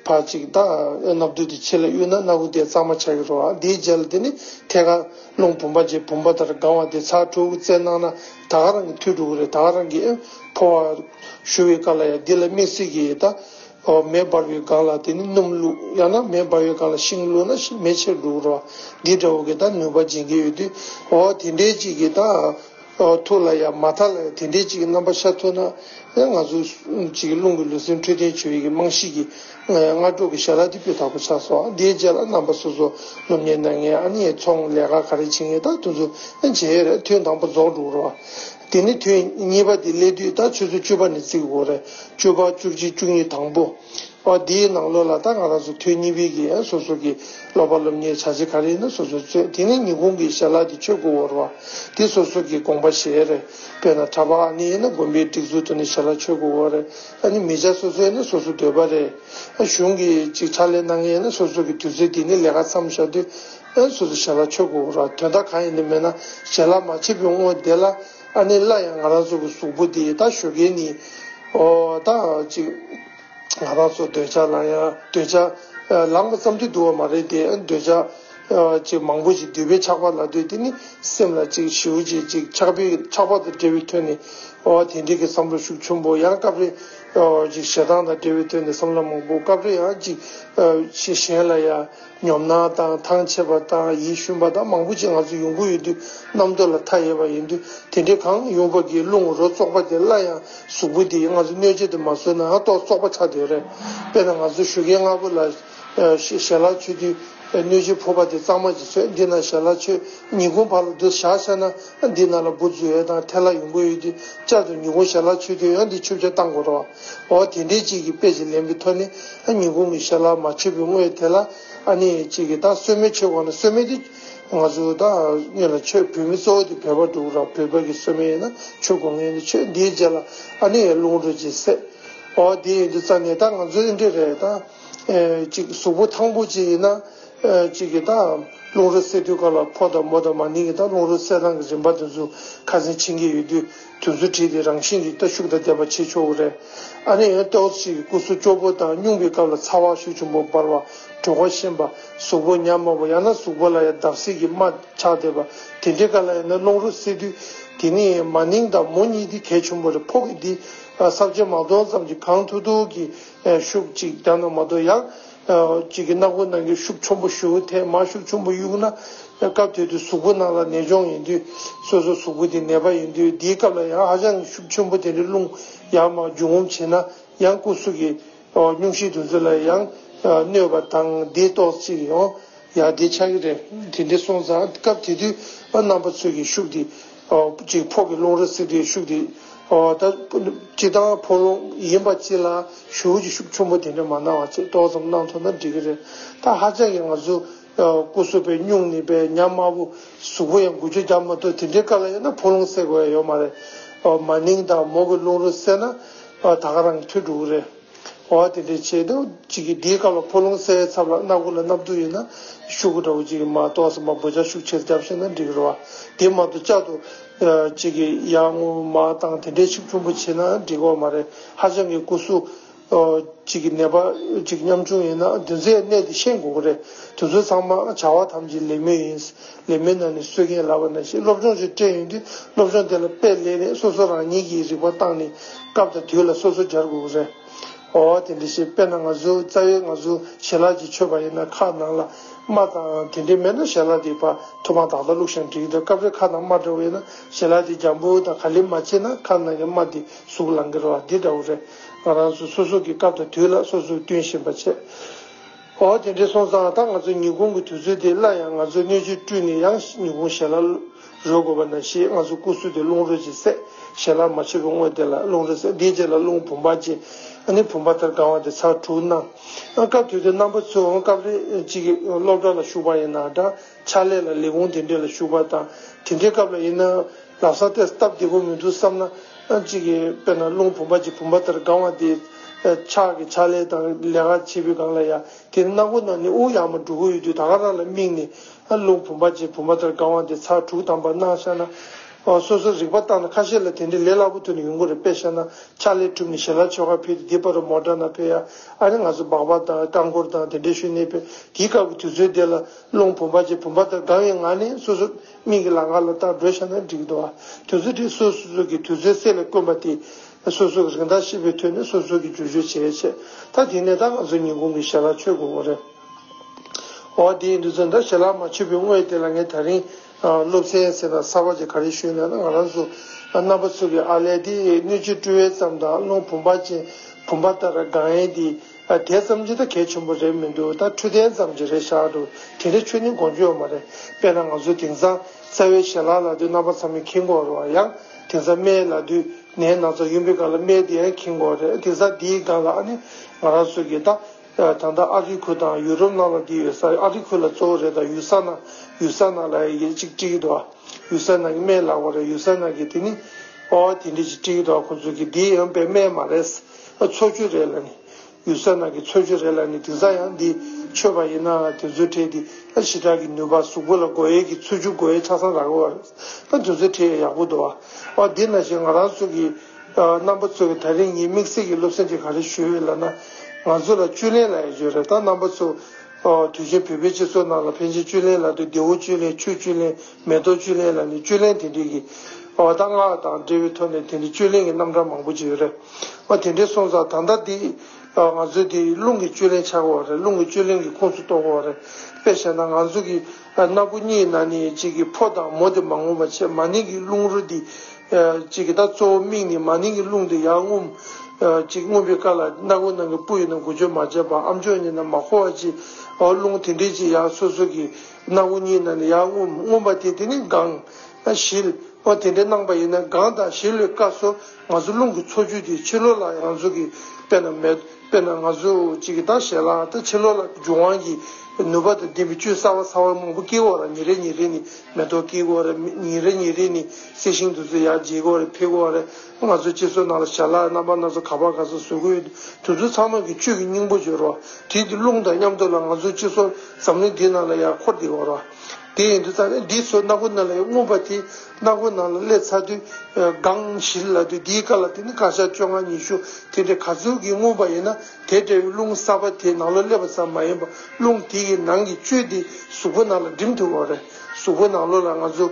ཕར་ཅིག་ད་སྣབས་བརྡོལ་དེ་ཕྱི་ལ་གཡུག་ན་སྣ་སྒོ་དེ་གཙང་མ་ཆགས་ཀྱི་རོ། དེའི་རྗེས་ལ་དེ་ནི་ཐད་ཀར་རླུང་བུམ་པ་རྗེས་བུམ་པ་ལྟར་ལྒང་བ་དེ་ཚགས་ཁྲུག་བརྩེགས་གནང་ན། ད་ག་རང་གི་ཐུགས་དཀྲུགས་རེད་ད་ག་རང་གི་ཕོ་བ་བཞུ་བའི་བཀའ་ལ་ཡ་འདི་ལ་དམིགས་བསལ་གྱི་ད་མེ་འབར་བའི་སྒང་ལ་དེ་ནི་སྣུམ་བླུག་ཡང་ན་མེ་འབར་བའི་སྒང་ལ་ཤིང་བླུག་ན་མེ་ཆེར་འགྲོ་རོ་འདི་འདྲ་བོ་གི་ད་ནུས་པ་སྦྱིན་གྱི་ཡོད་དུས་འོ་དེ་འདྲའི་ཅིག་གི་ད་ཐུགས་ལ་ཡ་མ་མཐའ་ལ་ཡ་དེ་འདྲའི་ཅིག་གི་རྣམ་པ་ཤར་ཐུབ་ན་ཡ་ང་ཚོ་ཅིག་རླུང་གི་ལུས་སེམས་འཕྲོད་བསྟེན་བྱེད་ཡུལ་གྱི་རྨང་གཞི་གི་སྔ་དྲོ་གི་ཞལ་ལག་སྡིག་པའི་བདག་པོ་ཕྱག་སོགས་དེའི་རྗེས་ལ་རྣམ་པ་སོ་སོ་སློབ་གཉེར་གནང་ངེས་ཨ་ནི་ཚོང་ལས་ཀ་ག་རེ་བྱེད་ངེས་དག་ཐུགས་འཛུམ་བྱེད་ཐུན་དང་པོ་རྫོགས་འགྲོ་རོ། དེ་ནས་ཐུན་གཉིས་པ་དེ་སླེབས་དུས་ད་ཆོས་ཚུལ་བཅུ་པ་ནས་བརྩི་དགོས་རེད་བཅུ་པ་བཅུ་གཅིག་བཅུ་གཉིས་དང་པོ། དེའི་ནང་ལོ་ལ་ད་ང་རང་ཚོ་ཐུན་གཉིས་པའི་གི་སོ་སོ་གི་སློབ་པ་སློབ་གཉེར་བྱ་བྱེད་ག་རེ་ཡིན་ན་སོ་སོས་རྩོད་དེ་ནས་ཉིན་གུང་གི་ཞལ་ལག་དེ་ཆོས་དགོས་འོ་རོ། དེ་སོ་སོ་གི་དགོངས་པ་བཞེས་རེད་དཔེར་ན་གྲྭ་པ་ཨ་ནི་ཡིན་ན་དགོན་པའི་སྒྲིག་འཛུགས་དུ་ནས་ཞལ་ལག་ཆོས་དགོས་འོ་རེད། ཨ་ནི་མི་བྱ་སོ་སོའི་ནི་སོ་སོ་འདོད་པ་རེད། ཨ་གཞུང་གིས་ཅིག་ཕྲ་ལས་གནང་ཡས་ནི་སོ་སོ་གི་དུས་ཚོད་དེ་ནི་ལས་ཀ་བསམ་བཞག་དུས་ཨ་ནི་སོ་སོ་ཞལ་ལག་མཆོད་དགོས་རོགས་དོན་དག་གང་ཡིན་དུ་མེད་ན་ཞལ་ལག་མ་ཕྱེས་པོའི་དངོས་བསྡད་ལ་ཨ་ནི་སླ་ཡང་ང་རང་ཚོ་གི་གཟུགས་པོ་དེ་ད་ཞོ་གས་ནི་ཨོ་ད་ཅིག་ང་རང་ཚོ་འདོད་ཆགས་ལངས་ཡ་འདོད་ཆགས་ལངས་པ་ཙམ་དུ་འདུག་བ་མ་རེད་དེ་འདོད་ཆགས། ཅིག་མང་པོ་ཞིག་འདུས་པའི་ཆགས་པ་ལ་ལྟོས་དེ་ནི་སེམས་ལ་ཅིག་བྱེའུ་ཅིག་ཅིག་ཆགས་པས་ཆགས་པ་དང་འབྲེལ་བའི་དོན་ནི། དེ་འབྲེལ་གྱི་བསམ་བློ་ཤུགས་ཆུན་པོ་ཡང་སྐབས་རེ། ཅིག་ཞེ་སྡང་དང་འབྲེལ་བའི་དོན་ནི་བསམ་བློ་མང་པོ་སྐབས་རེ་ཡང་ཅིག། ཅིག་གཞན་ལ་ཡང་ཉོབ་སྣང་དང་ཐང་ཆད་པ་དང་ཡིད་ཞུམ་པ་དང་མང་པོ་ཅིག་ང་ཚོ་ཡོང་གི་ཡོད་དུས་རྣམ་རྟོག་ལ་མཐའ་ཡས་པ་ཡིན་དུས་དེ་འདྲའི་གང་ཡོང་བབས་ཀྱི་རླུང་རོ་བཙོག་པ་དེ་སླར་ཡང་གཟུགས་པོ་དེས་ང་ཚོ་གནོད་བྱེད་དུ་མ་བཟོས་ན་རྟོག་བཙོག་པ་ཆགས་དེ་རེད། དཔེར་ན་ང་ཚོ་བཞུགས་སྒར་ལྔ་པོ་ལ། ཞལ་ལག་མཆོད་དུས་གནོད་སྦྱིན་ཕོར་པ་དེ་གཙང་མ་གྱིས་ཟོས་འདི་ན་ཞལ་ལག་མཆོད་ཉིན་གུང་བར་ལ་བསྡུ་བཞག་བྱས་ན་འདི་ན་ལ་བུ་རྫུ་འོད་དང་ཐལ་ལ་ཡོང་གི་ཡོད་དུས་བསྐྱར་དུ་ཉིན་གུང་ཞལ་ལག་མཆོད་དུས་ཡང་འདི་ཆུ་བྱ་བཏང་དགོས་རོ། འོ་དེ་འདྲའི་ཅིག་གི་དཔེ་ཅིག་ལེན་པའི་ཐོག་ནས་ཉིན་གུང་གི་ཞལ་ལག་མ་མཆོད་པའི་དངོས་དེ་ལ་ཨ་ནི་ཅིག་གིས་ད་གསོལ་སྨན་མཆོད་དགོས་ན་གསོལ་སྨན་དེ་ང་ཚོ་ད་ཉིད་ལ་མཆོད་བོད་མི་གཙོ་བོ་དེ་བོད་པ་འདུག་ར་བོད་པ་གི་གསོལ་སྨན་ཡིན་ན་མཆོད་དགོས་ངེས་འདུག་ཆོས་འདིའི་རྗེས་ལ་ཨ་ནི་ཡའི་རླུང་འགྲོ་ཅིག་སེ། འོ་དེ་ཡིན་དུས་རྩ་ནས་ད་ང་ཚོ་ཨི་འདྲ་རེད་ད། གཟུགས་པོ་ཐང་པོ་ཅིག་ཡིན་ན། རླུང་རོ་བསལ་དུས་ག་ལ་ཕོ་དང་མོ་དང་མ་ནིང་གི་རླུང་རོ་བསལ་སྟངས་ཀྱི་རིམ་པ་དེ་ཚོ་ཁ་ཟས་འཆིང་གི་ཡོད་དུས་དེ་ཚོ་བྲིས་ཏེ་རང་བཞིན་གྱིས་ལྟ་ཤུགས་དང་ལྡན་པ་བྱེད་ཆོག་གི་རེད། ཨ་ནེ་ཨོ་ཏོ་ཞིག་གི་སྐུ་གཟུགས་སྐྱོ་པོ་དང་སྙུང་པའི་སྐབས་ལ་ཚ་བ་ཤུགས་ཆེན་པོ་འབར་བ་གྲོད་ཁོག་གཤིན་པ་གཟུགས་པོ་ཉམས་དམའ་བ་ཡང་ན་གཟུགས་པོ་ལ་ཡང་བརྡབ་གསིག་གི་རྨ་ཆགས་བསྡད་པ་དེ་འདྲའི་སྐབས་ལ་ཡང་ན་རླུང་རོ་བསལ་དུས་དེ་ནི་མ་ནིང་དང་མོ་གཉིས་དེ་གལ་ཆེན་པོ་རེད་ཕོ་གི་དེ་སྲབ་ཆེན་མ་སྟོང་ཙམ་གྱི་གངས་ཐུག་ཐུག་གི་ཤུག་གཅིག་བརྡབས་ན་མ་གཏོགས་ཡག། གཅིག་གི་སྣ་སྒོ་ནང་གི་ཤུག་ཆུང་པོ་གཞུག་ཐལ་མ་ཤུག་ཆུང་པོ་གཡུག་ན། སྐབས་དེ་དུས་གཟུགས་པོ་ནང་ལ་ནད་འབྱུང་ཡིན་དུས་སོ་སོ་གཟུགས་པོ་དེ་ནད་པ་ཡིན་དུས་དེའི་སྐབས་ལ་ཡང་ཧ་ཅང་ཤུག་ཆུང་པོ་དེ་འདྲ་བླུགས་ཡང་མ་རྒྱུ་ངོམ་བྱེད་ན་ཡང་སྐུ་གཟུགས་ཀྱི་སྙུང་གཞིའི་འདུ་འཛི་ལ་ཡང་གནོད་པ་དང་དེ་ལྟོགས་ཚིགས་ཡོང་ཡང་དེ་ཆགས་ཀྱི་རེད་དེ་འདྲས་སོང་ཙང་སྐབས་དེ་དུས་རྣམ་པ་ཚོས་ཀྱི་ཤུག་དེ་ཅིག་ཕོག་གི་རླུང་རོ་བསིལ་དེ་ཤུགས་དེ། སྤྱི་དང་ཕོ་རླུང་ཡིན་པ་ཅི་ལ་ཞུགས་ཀྱི་ཤུགས་ཆུང་པོ་དེ་འདྲ་མ་སྣང་བ་ཅིག་ཏོག་ཙམ་སྣང་ཐུབ་ན་འགྲིག་གི་རེད་ད་ཧ་ཅང་གི་ང་ཚོ་སྐུ་གསོ་པའི་སྨྱུང་ནི་པའི་ཉམས་དམའ་བོ་གཟུགས་པོ་ཡང་དགུ་བཅུ་བརྒྱ་མ་ཐུབ་དེ་འདྲའི་ཀ་ལ་ཡོད་ན་ཕོ་རླུང་སེལ་དགོས་ཡ་ཡོད་མ་རེད། མ་ནིང་དང་མོ་གི་རླུང་རོ་སེལ་ན་ད་ག་རང་གི་ཐུགས་འགྲོ་གི་རེད། བ་དེ་འདྲས་བྱས་འདུག་ཅིག་གིས་འདིའི་སྐབས་ལ་ཕོ་ལུང་སའི་ཚབ་ལ་སྣ་དགུ་ལ་སྣབས་དུག་ཡོད་ན་ཤུག་གུ་འདྲ་བོ་ཅིག་གིས་མ་གཏོགས་སྲིན་པ་འབུ་ཆ་ཤུགས་ཆེར་བརྒྱབ་ཤེས་ན་འགྲིག་རོ། དེ་མ་གཏོགས་ལྕགས་དུག་ཅིག་གིས་ཡར་སྔོ་མ་བཏང་དེ་འདྲས་ཤུགས་ཆུང་པོ་བྱེད་ན་འགྲིག་བ་མ་རེད། ཧ་ཅང་གི་སྐུ་གཟུགས་ཅིག་གི་ནད་པ་ཅིག་ཉམ་ཆུང་ཡིན་ན་དུས་ཚོད་གནས་དེ་ཤེས་དགོས་ཀྱི་རེད། དུས་ཚོད་ཚང་མ་བྱ་བ་ཐམས་ཅད་ལེགས་མོད་ཡིན། ལས་མི་སྣ་ནས་གསོལ་མཁན་ལབ་པ་ན་ཞིག་སློབ་སྦྱོང་ཞིག་སྤྲད་ཡོང་དུས་སློབ་སྦྱོང་དེ་ལ་དཔེ་ལེན་རེས་སོ་སོ་རང་ཉིད་ཀྱིས་རིག་པ་བཏང་ནས་སྐབས་དང་དུས་ལ་སོ་སོ་སྦྱར་དགོས་རེད། འོ་དེ་འདྲ་ཞིག་དཔེ་ན་ང་ཚོའི་རྩ་བའི་ང་ཚོ་ཞལ་ལག་གིས་ཆོད་པ་ཡིན་ན་ཁ་ནང་ལ་རྨ་དང་དེ་འདྲ་མེད་ན་ཞལ་ལག་དེ་བར་དུ་མ་དག་ད་ལུག་ཤང་བྲིས་འདུག་སྐབས་རེ་ཁ་ནང་རྨ་འདྲ་བས་ན་ཞལ་ལག་དེ་རྒྱང་བུ་དང་ག་ལེར་མ་བྱས་ན་ཁ་ནང་གི་རྨ་དེ་ཟུག་ལང་གི་རོ་འདི་འདྲ་བོ་རེད། ང་རང་ཚོ་སོ་སོ་གིས་སྐབས་དང་དུས་ལ་སོ་སོ་བསྟུན་བཞིན་པ་བྱས། ཨོ་དེ་འདྲའི་སོང་ཙང་ད་ང་ཚོའི་ཉི་གུང་གི་དུས་ཚོད་དེ་སླར་ཡང་ང་ཚོའི་སྣོད་བཅུད་བཀྲུས་ནས་ཡང་ཉི་གུང་ཞལ་ལག་རོལ་དགོས་པ་ན་ཞེས་ང་ཚོའི་སྐུ་གཟུགས་དེ་རླུང་རོལ་གྱིས་བསྲེག་ཞལ་ལག་མ་ཕྱི་རུ་བསྔོས་དེ་ལ་རླུང་རོལ་བསྲེག་དེའི་རྗེས་ལ་རླུང་བུམ་པ་ཅན་ནི་བུམ་པ་དར་དཀར་བ་དེ་ཚར་དྲུག་གནང། སྐབས་དེ་དུས་རྣམ་པ་ཚོས་སྐབས་རེ་གཅིག་སློབ་གྲྭ་ལ་ཞུགས་པ་ཡིན་ན་འདྲ། ཕྱག་ལས་ལ་ལས་ཁུངས་དེ་འདྲས་ལ་ཞུགས་པ་དང་དེ་འདྲའི་སྐབས་ལ་ཡིན་ན་ལག་བཟང་སྟེ་སྟབས་བདེ་པོ་མི་འདུག་བསམ་ན། གཅིག་གིས་དཔེར་ན་རླུང་བུམ་པ་གཅིག་བུམ་པ་ལྟར་སྒང་བ་དེ། ཕྱག་གི་ཕྱག་ལས་དང་ལས་ཀ་བྱེད་པའི་སྒང་ལ་ཡ། དེ་ནི་སྣ་སྒོ་ནང་ནས་དབུགས་ཡང་མ་འགྲོ་གི་ཡོད་དུས་ད་ག་རང་ལ་དམིགས་ནས། རླུང་བུམ་པ་གཅིག་བུམ་པ་ལྟར་སྒང་བ་དེ་ཚར་དྲུག་དམ་པར་སྣང་ཤར་ན། སོ་སོར་རིག་པ་བརྟགས་ན་ཁ་ཤས་ལ་དེ་འདྲའི་ལས་སླ་པོ་ཐོན་ནས་ཡོང་གི་རེད་དཔེ་བཤད་ན་ཕྱག་ལས་གྲུབ་ནས་ཞལ་ལག་ཆོལ་ཁ་ཕུད་དེ་དེ་པར་རོ་མོ་འདྲ་ན་ཕེ་ཡ། ཨ་རེ་ང་ཚོ་སྦག་སྦག་དང་རྐང་འཁོར་དང་དེ་འདྲས་ཞུ་གནས་པས་དེའི་སྐབས་ཀྱི་དུས་ཚོད་དེ་ལ། རླུང་བུམ་པ་ཅིག་བུམ་པ་དང་འདྲ་བའི་ངང་ནས་སོ་སོ་མིག་གི་ལག་ཁ་ལ་བལྟ་བགྲོད་བྱ་ན་འགྲིག་འདུག་དུས་ཚོད་དེ་སོ་སོ་སོ་གི་དུས་ཚོད་གསལ་ལེར་དཀོན་པ་དེ། སོ་སོ་གི་རིན་ཐང་ཤེས་པའི་དུས་ནས་སོ་སོ་གི་འགྱུར་བཅོས་བྱས་རེ་ཆད། ད་དེ་ནས་ད་ང་ཚོ་ཉིན་གུང་གི་ཞལ་ལག་མཆོད་དགོས་རེད། འོ་དེའི་དུས་ཚོད་འདྲ་ཞལ་ལག་མ་མཆོད་པའི་དངོས་དེ་ལ་ངས་ད་རིང་སློབ་ཚན་ཟེར་ན་གསར་བ་ཅིག་ག་རེ་ཞུས་ན་ན་ང་རང་ཚོ་རྣམ་པ་ཚོ་གི་ཨ་ལས་དེ་སྣོད་བཅུད་བཀྲུ་བའི་མཚམས་དང་རླུང་བུམ་པ་ཅན་བུམ་པ་ལྟར་སྒང་ཡན་དེ། ཨ་དེ་ཙམ་གྱིས་ད་གལ་ཆེན་པོ་རེད་མི་འདུག་ད་འཕྲོད་བསྟེན་ཙམ་གྱིས་རེད་ཤག་འདུག་དེ་འདྲའི་ཆོས་ནི་དགོངས་རྒྱུ་ཡོད་མ་རེད་དཔེར་ན་ང་ཚོའི་དེང་སང་རྩ་བའི་ཞལ་ལག་ལ་དུས་རྣམ་པ་ཚང་མའི་འཁིང་གོག་རོ་ཡང་དེང་སང་རྨའི་ལ་དུས་ནས་ན་ཚ་ཡུན་པའི་སྐབས་ལ་རྨའི་དེ་ཡང་འཁིང་གོག་རེད་དེང་སང་དེའི་སྒང་ལ་ཨ་ནི་ང་རང་ཚོ་གིས་ད་ད་ལྟ་ཨ་ཧྲི་ཁུལ་དང་ཡུ་རོབ་ནང་ལ་དེ་ཡོད་ས་ཨ་ཧྲི་ཁུལ་ལ་གཙོ་བོ་རེད་ད་ཡུལ་ས་ན་ཡུལ་ས་ན་ལ་ཡི་གེ་གཅིག་བྲིས་འདུག་ཨ་ཡུལ་ས་ན་གི་རྨའི་ལག་པ་རེད་ཡུལ་ས་ན་གི་དེ་ནི་ཨོ་དེ་འདྲས་ཅིག་བྲིས་འདུག་ཨ་ཁོང་ཚོ་གིས་དེའི་ཡང་པའི་རྨའི་མ་རེད། འཚོལ་རྒྱུ་རེད་ལ་ནི། གཡུལ་ས་ནང་གི་འཚོལ་རྒྱུ་རེད་ལ་ནི་དེང་སང་ཡང་འདི་ཆོས་པ་ཡིན་ནའང་དེ་ཚོའི་གྲས་འདི་ལ་ཞི་དྲག་གི་ནུས་པ་གཟུགས་པོ་ལ་སྒོ་དབྱེ་གི་འཚོལ་རྒྱུ་སྒོ་དབྱེ་ཆ་ཚང་རག་རོགས་རེད་ད་དེ་ཚོའི་གྲས་ཡག་པོ་འདུག་ཨ། དེ་ན་བཞིན་ང་རང་ཚོ་གི་རྣམ་པ་ཚོ་གི་ད་རིང་ཉིད་དམིགས་བསལ་གྱི་སློབ་གསེང་དེ་ག་རེ་ཞུ་འོས་ལ་ན། ང་ཚོ་ལ་བཅུད་ལེན་ལ་ཡ་རྒྱུ་རེད་ད་རྣམ་པ་ཚོ། དུས་ཆེན་བོད་པའི་སྤྱི་ཚོགས་ནང་ལ་ཕན་ཆེན་བཅུད་ལེན་ལ་དུ་བདེ་བོ་བཅུད་ལེན་ཆོས་བཅུད་ལེན་མེ་ཏོག་བཅུད་ལེན་ལ་ནི་བཅུད་ལེན་དེ་འདྲིས་ཀྱི། བ་དང་ངག་དང་འབྲེལ་བའི་ཐོག་ནས་དེ་འདྲིས་བཅུད་ལེན་གྱི་རྣམ་གྲངས་མང་པོ་ཅི་ཡོད་རེད། བ་དེ་འདྲིས་སོང་ཙང་ད་ལྟ་འདི། ང་ཚོས་དེ་རླུང་གི་བཅུད་ལེན་ཆགས་དགོས་བ་རེད་རླུང་གི་བཅུད་ལེན་གྱི་ཁུངས་སུ་གཏོགས་དགོས་བ་རེད། དཔེ་བཞེས་ན་ང་ཚོ་གི། སྣ་བུག་གཉིས་ན་ནི་གཅིག་གི་ཕོ་དང་མོ་དེ་མ་ངོམས་པ་ཆེས་མ་ནིང་གི་རླུང་རོ་འདི། གཅིག་གི་ད་གཙོ་བོ་མིག་ནི་མ་ནིང་གི་རླུང་དེ་ཡར་ངོམ། གཅིག་ངོམ་པའི་སྐབས་ལ་སྣ་བུག་ནང་གི་སྤུ་ཡིན་ན་འགུལ་སྐྱོད་མ་བྱས་པར་ཨམ་ཅོག་གཉིས་ན་མ་འཁོར་བ་ཅི། རླུང་དེ་འདྲིས་ཀྱི་ཡར་སོ་སོ་གི། སྣང་ངོ་གཉིས་ན་ནི་ཡང་མངོན་པ་དེ་དེ་ནི་དགང། བཞིལ། བ་དེ་འདྲའི་སྣང་བ་ཡིན་ན་དགང་དང་བཞིལ་ལོས་དཀའ་སོ། ང་ཚོ་རླུང་གི་འཚོ་བཅུད་དེ་ཕྱི་ལོགས་ལ་ཡང་ཚོ་གི། དཔེར་ན་མེ། དཔེར་ན་ང་ཚོ་གཅིག་གི་དང་ཞལ་ལག་དང་ཕྱི་ལོགས་ལ་རྒྱུ་དབང་གི། ནུས་པ་དང་ལྡན་པའི་བཅུད་གསར་བ་ཚ་བ་མང་པོ་སྐྱེ་གོ་ར་ཉིན་རེ་ཉིན་རེ་ནི་མེ་ཏོག་སྐྱེ་གོ་ར། ཉིན་རེ་ཉིན་རེ་ནི་གསེར་ཤིང་དུ་ཚོ་ཡག་འབྱེད་གོ་ར་འཕེལ་གོ་ར། ང་ཚོས་ཁྱེད་ཚོའི་ནང་ལ་ཞལ་ལག་རྣམ་པ་སྣ་ཚོགས་ག་པར་ག་ས་བཟོ་གི་ཡོད་དུས་ཚོད་ཚང་ནོག་གི་བཅུད་ཀྱི་སྙིང་པོ་བརྗོད་རོགས་དེའི་དུས་རླུང་དང་མཉམ་སྡོད་ལ་ང་ཚོའི་སྤྱི་ཚོགས་འཛམ་གླིང་འདིའི་ནང་ལ་ཡར་འཁོར་བསྡད་འོང་རོགས་དེ་ཡིན་དུས་ད་ནི་འདིའི་ཚོད་སྣ་སྒོ་སྣ་ལ་ཡོད་རྔོན་པ་དེས་སྣ་སྒོ་ནང་ལ་སླེབས་ཚར་དུས་སྒང་བཞིར་ལ་དུས་འདིའི་སྐར་ལ་དེ་ནི་སྐར་ཆ་བཅོ་ལྔ་ཉི་ཤུ་དེ་འདྲའི་ག་ཚོད་ཀྱིས་རྔོན་པ་ཡིན་ན་དེ་འདྲ་བའི་རླུང་གསར་པ་དེ་ནང་ལོ་སླེབས་པ་ཙམ་མ་ཡིན་པར་རླུང་དེའི་ནང་གི་བཅུད་དེ་གཟུགས་པོ་ནང་ལ་འགྲིམ་ཐུབ་འོང་རེད་གཟུགས་པོ་ནང་ལོ་ལ་ང་ཚོ།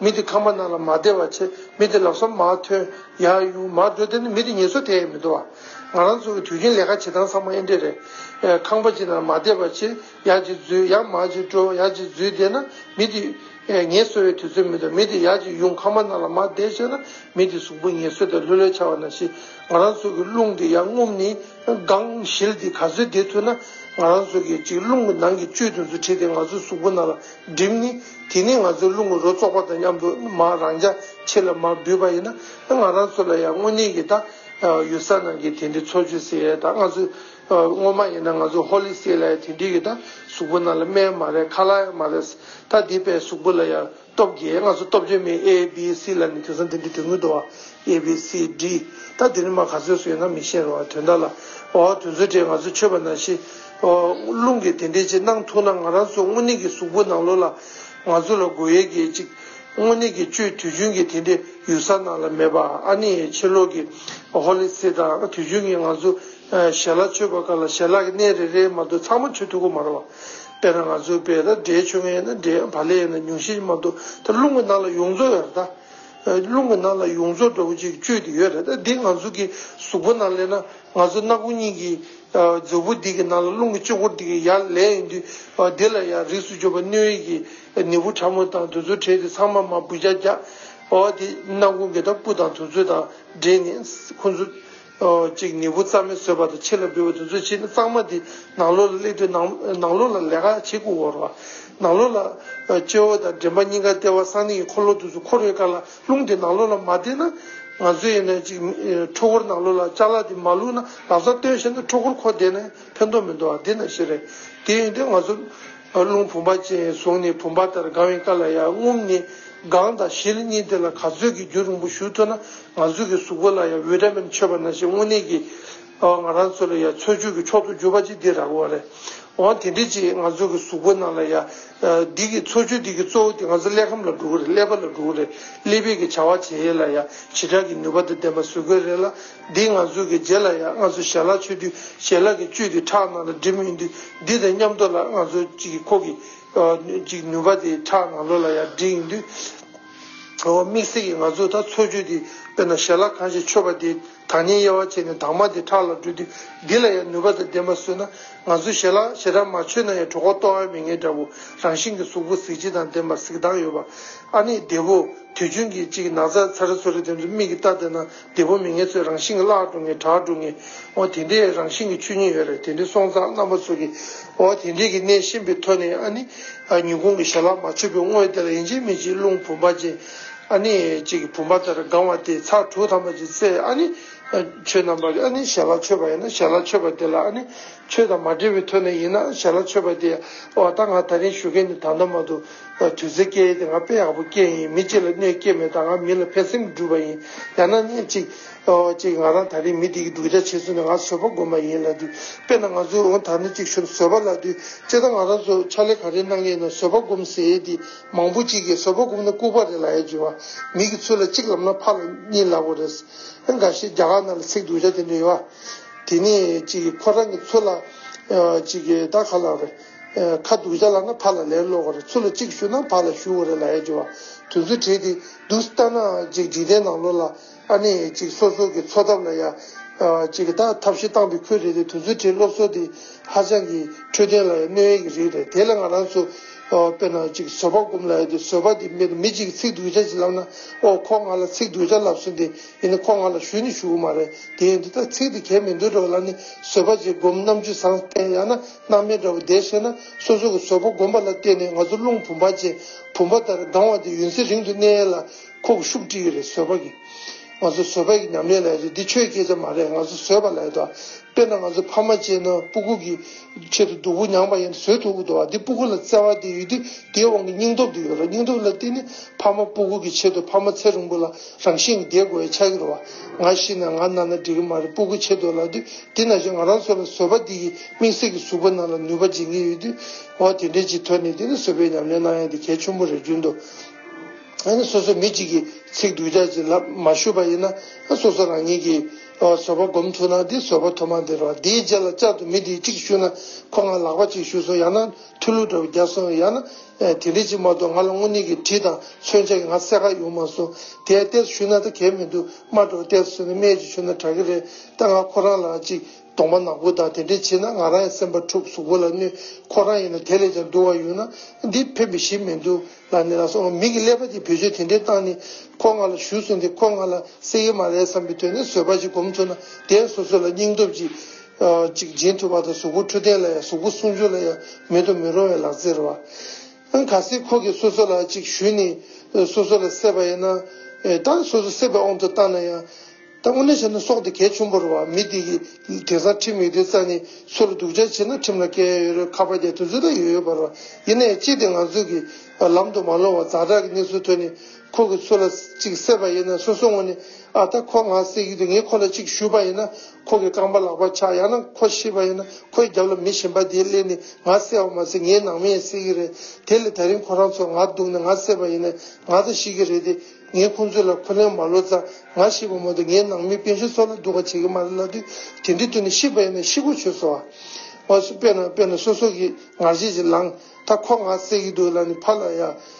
མི་དེ་ཁམས་པ་རྣམས་ལ་མ་བདེ་བར་བྱེད། མི་དེ་ལག་སོར་མ་ཐོན། ཡར་དབྱུང་མར་འགྲོ་དེ་ནི་མི་དེ་ངལ་གསོ་དེས་མི་འགྲོ་བ། ང་རང་ཚོ་གི་དུས་རྒྱུན་ལས་ཀ་བྱེད་སྟངས་ཚང་མ་ཨེ་འདྲེ་རེད། ཁང་པ་ཅིག་ནང་མ་བདེ་བར་བྱེད། ཡར་ཅིག་འཛུལ་ཡར་མར་ཅིག་འགྲོ་ཡར་ཅིག་འཛུལ་བསྡད་ན་མི་དེ། ངལ་གསོ་བའི་དུས་ཚོད་མི་འདུག་མི་དེ་ཡར་ཅིག་དབྱུང་ཁམས་པ་རྣམས་ལ་མ་བདེ་བྱས་ན་མི་དེ་གཟུགས་པོ་ངལ་གསོས་ཏེ་ལྷོད་ལྷོད་འཆའ་བ་ན་ཤི། ང་རང་ཚོ་གི་རླུང་དེ་ཡར་རྔུབ་ནི། སྒང་ཞིལ་དེ་ག་ཚོད་བདེ་ཐུག་ན། ང་རང་ཚོ་གི་ཅིག་རླུང་གི་ནང་གི་བཅུད་དེ་ཚོ་ཁྲིད་དེ་ང་ཚོ་གཟུགས་པོ་རྣམས་ལ། སྒྲིབ་ནི། དེ་ནས་ང་ཚོས་རླུང་གི་རོ་བཙོག་པ་དང་མཉམ་དུ་མ་རང་རྒྱ་ཆེ་ལ་མར་འབུད་པ་ཡིན་ན། ང་རང་ཚོ་ལ་ཡང་དངོས་གནས་ཀྱི་ད་ཡོད་ས་ནང་གི་དེ་འདྲའི་འཚོ་བཅུད་ཟེར་ཡས་ད་ང་ཚོས་སྔོན་མ་ཡིན་ན་ང་ཚོ་ཧོ་ལི་སེ་ལ་ཡང་དེ་འདྲའི་གི་ད་གཟུགས་པོ་ནང་ལ་སྨན་མ་རེད་ཁ་ལག་ཡང་མ་རེད། ད་དེ་པའི་གཟུགས་པོ་ལ་ཡང་སྟོབས་རྒྱས་ང་ཚོ་སྟོབས་རྒྱས་མེད A B C ལ་ནི་དེང་སང་དེ་འདྲའི་དོན་དངོས་དུ་བ། ཨེ་བྷི་སི་ལྡི། ད་དེ་རིག་མ་ག་ཚོད་སུ་ཡོད་ན་མི་ཤེས་རོ་དོན་དག་ལ། ཨོ་དོན་ཚོད་དེ་ང་ཚོ་ཆོས་པ་ན་ཤི། ཨོ། རླུང་གིས་དེ་འདྲས་ཅིག་གནང་ཐུག་ན་ང་རང་ཚོ་དངོས་གནས་ཀྱི་གཟུགས་པོ་ནང་ལོག་ལ། ང་ཚོ་ལ་དགོས་ཡས་ཀྱི་ཅིག། དངོས་གནས་ཀྱི་བཅོས་དུས་རྒྱུན་གྱི་དེ་འདྲས་ཡུལ་ས་ནང་ལ་མེད་པ་ཨ་ནི་ཡའི་ཕྱི་ལོག་གི། ཧོ་ལི་སི་དང་དུས་རྒྱུན་གྱི་ང་ཚོ། ཞལ་ལག་མཆོད་པ་ག་ལ་ཞལ་ལག་གི་གནས་རེ་རེའི་མ་གཏོགས་ཚང་མ་མཆོད་ཐུག་གོ་མ་རོ། དཔེར་ན་ང་ཚོའི་བས་ད་དགྲའི་མཆོད་མཁན་ཡིན་ན་དགྲའི་བ་ལས་ཡིན་ན་ཉུང་ཤས་མ་གཏོགས་ད་རླུང་གི་ནང་ལ་ཡོངས་རྫོགས་ཡར་ད། རླུང་གི་ནང་ལ་ཡོངས་རྫོགས་འདྲ་བོ་ཅིག་བཅོས་ཏེ་ཡོད་རེད་དེ་ང་ཚོ་གི་གཟུགས་པོ་ནང་སླེབས་ན་ང་ཚོ་སྣ་སྒོ་གཉིས་ཀྱི་མཛོད་སྤུ་འདི་གི་ནང་ལ་རླུང་གི་ལྕི་འཁོར་འདི་གི་ཡར་ལས་ཡོང་དུས་འདི་ལ་ཡང་རིགས་སུ་གྱུར་པ་སྣོད་ཡིད་ཀྱི་ནད་འབུ་ཕྲ་མོ་དང་དུ་ཚོད་བྲལ་ཏེ་ཚང་མ་མ་བུ་རྒྱ་རྒྱ། འོ་དེ་སྣ་སྒོ་འགས་ད་སྤུ་དང་དུ་ཚོད་དང་འདྲེས་ནས་ཁོ་ཚོ། ཅིག་ནི་བུ་རྩ་མེད་ཟོས་བར་དུ་ཕྱི་ལ་འབུལ་བ་དུས་ཚོད་ཕྱིས་ན་གཙང་མ་འདི་ནང་ལོགས་ལ་སླེབས་དུས་ནང་ལོགས་ལ་ལས་ཀ་བྱེད་དགོས་བོར་བ། ནང་ལོགས་ལ། སྤྱི་བོ་དང་མགྲིན་པ་གཉིས་ཀ་ལྟེ་བ་གསང་གནས་ཀྱི་འཁོར་ལོ་དུས་སུ་འཁོར་བའི་སྐར་ལ་རླུང་དེ་ནང་ལོགས་ལ་མ་བསྟན་ན། ང་ཚོས་ཡིན་ན་ཅིག་འཁྲུལ་འཁོར་ནང་ལོགས་ལ་ལྕགས་ལ་དེ་མ་བླུགས་ན་ལག་ཚ་སྟོན་ཤེས་ན་འཁྲུལ་འཁོར་ཁོ་བསྡད་ན་ཕན་ཐོགས་མི་འདུག་ཨ་དེ་ན་ཤེས་རེད་དེ་ཡིན་དུས་ང་ཚོ་ཨར་ལུང་བུམ་པ་ཅན་གཟུངས་ནི་བུམ་པ་ལྟར་དགང་བའི་བཀའ་ལ་ཡང་རྔུབ་ནས་དགང་དང་བཞིར་གཉིས་དེ་ལ་ག་ཚོད་ཀྱི་རྒྱུ་རིང་པོ་ཞུ་ཐུབ་ན་ང་ཚོ་གི་གཟུགས་པོ་ལ་ཡང་འོད་སྒྲ་མི་འཆོལ་བ་ན་ཞིག་དངོས་གནས་ཀྱི་ང་རང་ཚོ་ལ་ཡང་འཚོལ་དཔྱོད་ཀྱི་མཆོག་ཏུ་གྱུར་པ་ཅིག་འདི་ར་གོ་རེད་འོང་དེ་འདྲི་ཅིག་ང་ཚོ་གི་གཟུགས་པོ་ནང་ལ་ཡང་འདི་གི་འཚོལ་དཔྱོད་འདི་གི་གཙོ་བོ་དེ་ང་ཚོ་ཀླད་ཁམས་ལ་འགྲོ་གི་རེད་ཀླད་པ་ལ་འགྲོ་གི་རེད་ཀླད་པས་ཀྱི་བྱ་བ་བྱེད་ཡས་ལ་ཡང་བྱེ་བྲག་གི་ནུས་པ་དང་ལྡན་པ་བཟོས་དགོས་རེད་ལ། འདིའི་ངང་ཚུལ་གྱི་རྗེས་ལ་ཡང་ང་ཚོ་ཞལ་ལག་མཆོད་དུས་ཞལ་ལག་གི་བཅུད་དེ་ཁྲག་ནང་ལ་སྒྲིབ་མི་འདུག་འདི་དང་མཉམ་དུ་ལ་ང་ཚོ་གཅིག་ཁོག་གི་གཅིག་ནུས་པ་དེ་ཁྲག་ནང་ལོགས་ལ་ཡང་སྒྲིལ་ཡིན་དུས། འོ་དམིགས་བསལ་གྱི་ང་ཚོས་ད་འཚོལ་དཔྱོད་དེ་དཔེར་ན་ཞལ་ལག་གང་ཞིག་མཆོད་པ་དེས་དང་ཉིན་དབྱེ་བ་བྱས་ནས་དྭངས་མ་དེ་ཁྲག་ལ་བསྒྲོད་དུས་འདི་ལ་ཡང་ནུས་པ་དང་ལྡན་པ་བཟོས་ན་ང་ཚོས་ཞལ་ལག་ཞེ་དྲག་མ་མཆོད་ན་ཡང་གྲོགས་པོ་ལྟོ་བ་མི་ངན་འདྲ་བོ་རང་བཞིན་གྱི་གཟུགས་པོ་གཟི་བརྗིད་དང་ལྡན་པ་གཟིགས་སྟངས་ཡོད་པ་ཨ་ནི་བདེ་བོ། དུས་རྒྱུན་གྱི་གཅིག་ནགས་ཚལ་ཚ་རེ་མཚོ་རེ་དེ་ཚོ་མིག་གིས་བལྟ་བསྡད་ན། འདི་བོ་མི་ངན་ཚོས་རང་བཞིན་གྱི་བརླག་འགྲོ་ངེས་དྲག་འགྲོ་ངེས་འོ་དེ་འདྲའི་རང་བཞིན་གྱི་ཆོས་ཉིད་ཡོད་རེད་དེ་འདྲའི་སོང་ཙང་རྣམ་པ་ཚོ་གི་འོ་དེ་འདྲའི་གི་གནས་གཤིན་པོའི་ཐོད་ནས་ཨ་ནི་ཉིན་གུང་གི་ཞལ་ལག་མ་ཆོད་པའི་དངོས་དེ་ལ་ཡིན་གཅིག་མིན་གཅིག་རླུང་བུམ་པ་ཅན་ཨ་ནི་ཅིག་བུམ་པ་ལྟར་ལྒང་བ་དེས་ཚག་དྲུག་ཐམ་པ་ཅིག་བཙལ་ཨ་ནི་ཆོས་རྣམ་པ་ཨ་ནི་ཞལ་ལག་ཆོད་པ་ཡིན་ན་ཞལ་ལག་ཆོད་པ་དེ་ལ་ཨ་ནི་ཆོས་དང་མ་འབྲེལ་བའི་ཐོད་ནས་ཡིན་ན་ཞལ་ལག་ཆོད་པ་དེ་ཨོ་ད་ང་ད་རིང་ཞུ་མཁན་ནི་ད་མདོ་མ་དུ། དུས་ཚོད་སྐྱེལ་ཡས་དེ་ང་དཔེ་ཡག་པོ་སྐྱེལ་ཡིན་མི་གཅིག་ལ་གནོད་སྐྱེལ་མེད་ད་ང་མི་ལ་ཕན་སེམས་བསྒྲུབས་པ་ཡིན་ཡང་ན་ནི་གཅིག་གཅིག་ང་རང་ད་རིང་མི་དེ་གི་སྡུག་ཆ་བྱེད་ཚུལ་ནི་ང་བཟོད་པ་དགོས་མ་ཡིན་ལ་དུས་དཔེ་ན་ང་ཚོས་འོང་ད་ནི་གཅིག་ཤོར་བཟོད་པ་ལ་དུས་སྤྱི་ད་ང་རང་ཚོས་ཕྱག་ལས་ག་རེ་གནང་གི་ཡིན་ན་བཟོད་པ་སྒོམ་ཟེར་ཡས་དེ་མང་པོ་གཅིག་གིས་བཟོད་པ་སྒོམ་ན་ལྐུག་པ་རེད་ལ་ཡས་རྒྱུ་བ་མིག་གི་ཚུལ་ལ་གཅིག་ལབ་ན་ཕ་ལ་གཉིས་ལབ་པོ་རེད་ཨ་འགའ་ཤས་རྒྱ་གར་ན་ལ་ཚིག་སྡུག་ཆ་དེ་འདྲ་ཡོད་བ་དེ་ནི་གཅིག་གིས་ཁོ་རང་གི་ཚུལ་ལ་གཅིག་གིས་ད་ག་ལ་རེད། ཁ་འདུག་བྱ་ལ་ན་ཕར་ལ་ལེར་ལོག་གོ་རེ་ཚུར་ལ་གཅིག་ཞུགས་ན་ཕར་ལ་ཞུགས་གོ་རེ་ལ་ཡ་འགྱུར་བ་དུས་ཚོད་དྲེད་དེ་འདུག་ས་ལྟ་ན་ཅིག་འཇིག་རྟེན་ནང་ལོག་ལ་ཨ་ནེ་ཡ་ཅིག་སོ་སོ་གི་འཚོ་ཐབས་ལ་ཡ་ཅིག་གི་ད་ཐབས་ཤི་སྟངས་དེ་ཁུལ་རེད་དེ་དུས་ཚོད་དྲེད་སློབ་གསོ་དེ་ཧ་ཅང་གི་འཕྲོད་བསྟེན་ལ་ཡ་གནོད་ཡས་གི་རིགས་རེད་དེ་ལ་ང་རང་ཚོ་དཔེར་ན་ཅིག་བཟོད་པ་སྒོམ་ལ་ཡ་དེ་བཟོད་པ་དེ་མེད་དེ་མི་ཅིག་གི་ཚིག་འདུག་བྱ་ཅིག་ལབ་ན་ཨོ་ཁོ་ང་ལ་ཚིག་འདུག་བྱ་ལབ་སོང་དེ་ཡིན་ན་ཁོ་ང་ལ་ཞུ་ནི་ཞུ་གི་མ་རེད་དེ་ཡིན་དུ་ད་ཚིག་དེ་གས་མི་འདུག་འགྲོ་ལ་ནི་བཟོད་པ་ཅིག་སྒོམ་རྣམ་དཔྱོད་བཟང་བསྟེན་ཡ་ན། སྣང་མེད་འདྲ་བོ་བདེ་ཞེ་ན་སོ་སོ་གི་བཟོད་པོ་སྒོམ་པ་ལ་བརྟེན་ནས་ང་ཚོ་རླུང་བུམ་པ་ཅན་བུམ་པ་ལྟར་ལྡང་བ་དེ་ཡུན་ཚེ་རིང་དུ་གནས་ལ་ཁོག་ཤུགས་བཀྲི་ཡི་རེད་བཟོད་པ་གི། ང་ཚོ་བཟོད་པ་ཡི་ཉམས་ལེན་ལ་ཡོད་རེད་འདི་ཆོས་སྐད་ཆ་མ་རེད་ང་ཚོ་བཟོད་པ་ལ་ཡོད་དོ། དཔེར་ན་ང་ཚོ་ཕ་མ་གཅེས་ན་སྤུ་གུ་གི་ཆེད་དུ་སྡུག་པོ་མྱངས་པ་ཡིན་ན་བཟོད་ཐུབ་ཀི་འདུག་བ་དེ་སྤུ་གུ་ལ་བརྩེ་བ་དེ་ཡོད་དུས་དེའི་དབང་གི་སྙིང་སྟོབས་དེ་ཡོད་རེད་སྙིང་སྟོབས་ལ་བརྟེན་ནས་ཕ་མ་སྤུ་གུ་གི་ཆེད་དུ་ཕ་མ་ཚེ་རིང་པོ་ལ། རང་བཞིན་གྱི་བདེ་དགོད་ཆགས་ཀྱི་རོ། ང་ཤི་ན་ང་ན་ན་འགྲིག་གི་མ་རེད་སྤུ་གུ་ཆེ་དོ་ལགས་དུས་དེ་ན་ཞིག་ང་རང་སོ་ལ་བཟོད་པ་འདི་ཡི་མིག་སེར་གྱི་ཟུག་པ་ན་ལ་ནུས་པ་སྦྱིན་གྱི་ཡོད་དུས་འོ་དེ་འདྲའི་ཅིག་ཐོན་ནས་དེ་ནི་བཟོད་པའི་ཉམས་ལེན་གནང་ཡ་དེ་གལ་ཆུང་པོ་རེད་རྒྱུན་དུ་ཨ་སོ་སོ་མི་ཅིག་གི་ཚིག་སྡུག་ཅག་ཅིག་ལ་མ་ཞུ་པ་ཡིན་ན་སོ་སོ་རང་ཉིད་ཀྱི་བཟོད་པ་སྒོམ་ཐུབ་ན་དེ་བཟོད་པ་ཐོབ་མ་འདི་རོ་དེའི་རྗེས་ལ་ཅག་ཏུ་མི་དེ་ཅིག་ཞུ་ན་ཁོ་ང་ལག་པ་ཅིག་ཞུ་སོང་ཡང་ན། ཐུ་ལུ་དྲ་བ་བརྒྱ་སོང་ཡ་ན། དེ་འདྲའི་ཅིག་མ་གཏོགས་ང་ལ་དངོས་གནས་ཀྱི་དྲི་དང་མཚོན་ཆ་གི་ང་གསལ་ཁ་ཡོང་མ་སོང། དེ་ཡང་གཏེར་ཞུ་ན་ད་གལ་མི་འདུག་མ་འགྲོ་གཏེར་བཟོས་ན་སྨད་ཀྱི་ཆུ་ན་དྲག་གི་རེད་ད་ང་ཁོ་རང་ལའང་ཅིག་གདོང་པ་ནག་པོ་དང་དེ་འདྲས་བྱེད་ན་ང་རང་ཡང་སེམས་པ་འཁྲུག་གཟུགས་པོ་ལ་གནོད་ཁོ་རང་ཡིན་ན་དེ་ལས་ཀྱང་སྡུག་བ་ཡོད་ན་འདི་ཕན་པའི་ཞིག་མི་འདུག་ལ་ནི་ལ་སོང་མིག་གི་ཀླད་པ་དེ་བེད་སྤྱོད་དེ་འདྲས་བཏང་ནི་ཁོ་ང་ལ་ཞུ་སོང་དེ་ཁོ་ང་ལ་གསེ་གི་མ་རེད་བསམ་པའི་དོན་ནི་བཟོད་པ་ཅིག་སྒོམ་ཚུགས་ན་དེ་ཡང་སོ་སོ་ལ་སྙིང་སྟོབས་ཀྱི། ཅིག་སྦྱིན་ཐུབ་པ་དང་གཟུགས་པོ་འཕྲོད་བསྟེན་ལ་ཡང་གཟུགས་པོ་སྲུང་སྐྱོབ་ལ་ཡང་མེད་དུ་མི་རུང་བའི་ལག་རྩལ་རེད་བ། ཨང་ག་སེ་ཁོ་གིས་སོ་སོ་ལ་ཅིག་ཞུས་ནས་སོ་སོ་ལ་སྲེད་པ་ཡིན་ན། ད་སོ་སོ་སྲེད་པའི་དབང་དུ་བཏང་ན་ཡང། ད་དངོས་གནས་བྱས་ན་སྲོག་དེ་གལ་ཆུང་པོ་རེད་བ། མི་དེ་གིས་དེང་སང་ཁྲིམས་ཡོད་དུས་རྩ་ནས་སུ་ལ་སྡུག་ཅག་བྱས་ན་ཁྲིམས་ལ་བཀལ་ཡ་ཡོད་རེད་ཁ་པར་རྒྱག་དུས་ཚོད་ད་ཡོད་ཡོད་པ་རེད་བ། ཡིན་ན་ཡང་ཅིག་དེ་ང་ཚོ་གིས་ལམ་དུ་མ་ལོང་བར་བཛྲ་བཛྲ་གི་གནས་ཚུལ་ཐོས་ནས་ཁོ་གིས་སུ་ལ་ཅིག་སྲེད་པ་ཡིན་ན་སོ་སོ་ངོ་ནས་ཨ་ད་ཁོ་ང་སྲེད་ཀྱི་འདུག་ངས་ཁོ་ལ་ཅིག་ཞུས་པ་ཡིན་ན་ཁོ་གི་རྐང་པ་ལག་པ་ཆག་ཡང་ན་ཁོ་ཤི་བ་ཡིན་ན་ཁོའི་རྒྱབ་ལ་མི་གཞན་པ་དེའི་ཀླད་ནི་ང་བསད་བ་མ་ཟད་ངའི་ནང་མི་ཡང་བསད་ཀྱི་རེད་དེ་ལས་ད་རིང་ཁོ་རང་ཚོ་ང་སྡུག་ནས་ང་བསད་པ་ཡིན་ནས་ང་ད་ཤི་གི་རེད་དེ་ངས་ཁོང་ཚོའི་ལ་ཁུ་ལན་མ་ལོ་ཙང་ང་ཤི་བ་མ་གཏོགས་ངའི་ནང་མི་དཔོན་གཞན་སོགས་ལ་སྡུག་པ་བྱེད་ཀྱི་མ་རེད་ལབ་དུས་དེ་འདྲའི་དུས་ནས་ཤི་བ་ཡིན་ན་ཤི་གོ་ཆོད་སོ། དཔེར་ན་དཔེར་ན་སོ་སོ་གིས་ངར་ཤེད་ཅིག་ལངས་ད་ཁོ་ང་བསད་ཀྱི་འདུག་ལ་ནི་ཕ་ལ་ཡ།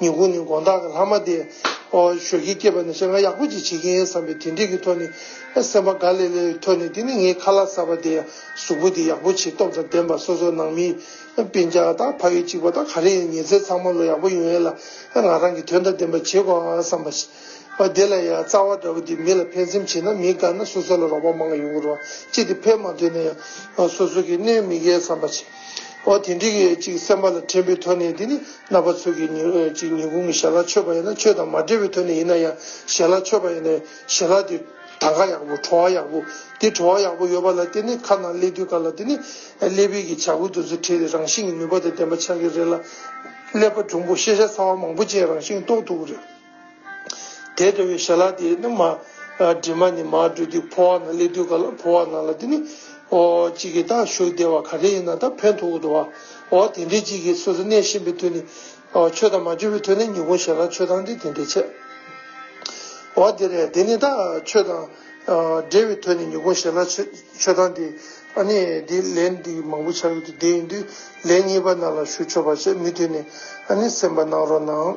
ཉིན་གུང་ནི་དགོངས་དག་གི་ལྷག་མ་དེ། ཨོ། ཞོ་ཁྱི་སྐྱེས་པ་ནི་བཤད་ང་ཡག་པོ་ཅིག་བྱེད་ཀྱིན་ཡིན་བསམ་པའི་དེ་འགྲིག་གི་ཐོག་ནས། སེམས་པ་དགའ་ལེ་ལེ་ཡི་ཐོག་ནས་དེ་ནི་ངའི་ཁ་ལག་གསར་པ་དེ། གཟུགས་པོ་དེ་ཡག་པོ་ཆེ་སྟོབས་དང་ལྡན་པ་སོ་སོ་ནང་མི། དཔེ་འཇགས་དང་ཕ་ཡུལ་གཅིག་པ་དང་ག་རེ་ཡིན་ཉེ་ཚེ་ཚང་མ་ལོ་ཡག་པོ་ཡོང་ཡས་ལ། ང་རང་གིས་དོན་དང་ལྡན་པ་བྱེད་དགོས་ཨ་བསམ་པ། བདེ་ལ་ཡ་རྩ་བ་འདྲ་བོ་དེ་མི་ལ་ཕན་སེམས་བྱེད་ན་མི་དགའ་ན་སོ་སོ་ལ་རོགས་པ་མང་ཡོང་གི་རོ། ཅི་སྟེ་ཕན་མ་ཐོན་ན་ཡང། སོ་སོ་གིས་གནོད་མི་གལ་བསམ་པ། ཨོ་དེ་འགྲིག་གི་ཅིག་སེམས་པ་ལ་དྲན་པའི་ཐོག་ནས་དེ་ནི། རྣ་བ་ཚོས་ཀྱི་ཅིག་ཉིན་གུང་གི་ཞལ་ལག་མཆོད་པ་ཡིན་ན་མཆོད་དང་མ་འབྲེལ་བའི་དོན་ནས་ཡིན་ན་ཡང་ཞལ་ལག་མཆོད་པ་ཡིན་ནའི་ཞལ་ལག་དེ་ད་གའ་ཡག་པོ་བྲོ་བ་ཡག་པོ་དེ་བྲོ་བ་ཡག་པོ་ཡོད་པ་ལ་བརྟེན་ནས་ཁ་ནང་སླེབས་དུས་ག་ལ་དེ་ནི་སླེབས་བས་ཀྱི་བྱ་ཁུ་དོན་ཚུལ་ཁྲིད་རེད་རང་བཞིན་གྱི་ནུས་པ་དེ་ལྡན་པ་ཆགས་ཀྱི་རེད་ལ། ཀླད་པ་འབྲུམ་བུ་ཤེས་བྱ་ཚ་བ་མང་པོ་ཅན་རང་བཞིན་རྟོགས་ཐུབ་ཀྱི་རེད། དེས་འགྲོ་བའི་ཞལ་ལག་དེས་ནི་མ། གྲིབ་མ་ནི་མ་བཀྲུས་ཏེ་འཕོ་བ་ན་སླེབས་དུས་ག་ལ་འཕོ་བ་ན་ལ་དེ་ནི། ཨོ། གཅིག་གིས་ད་བཞུགས་བདེ་བ་ག་རེ་ཡིན་ན་ད་བོད་མཐོ་དབུ་དུ་བ། ཨོ། དེ་འདྲའི་གཅིག་གིས་སོ་སོ་གནས་ཤིང་པའི་དུས་ནི། ཨོ། ཆོས་དང་མ་བཅོས་པའི་དུས་ནི་ཉིད་གུང་ཞལ་ལག་ཆོས་དང་དེ་དེ་འདྲའི་ཆད། ཨོ། དེ་རེད་དེ་ནི་ད་ཆོས་དང། འབྲེལ་བའི་དུས་ནི་ཉིད་གུང་ཞལ་ལག་ཆོས་དང་དེ། ཨ་ནི། དེ་ལན་འདི་མང་པོ་བྱ་ཡུལ་དུ་བདེ་ཡིན་དུས་ལན་གཉིས་པ་ན་ལ་བཞུགས་ཆོག་པར་བྱས་མི་དུས་ནི། ཨ་ནི་སེམས་པ་སྣང་རོགས་གནང།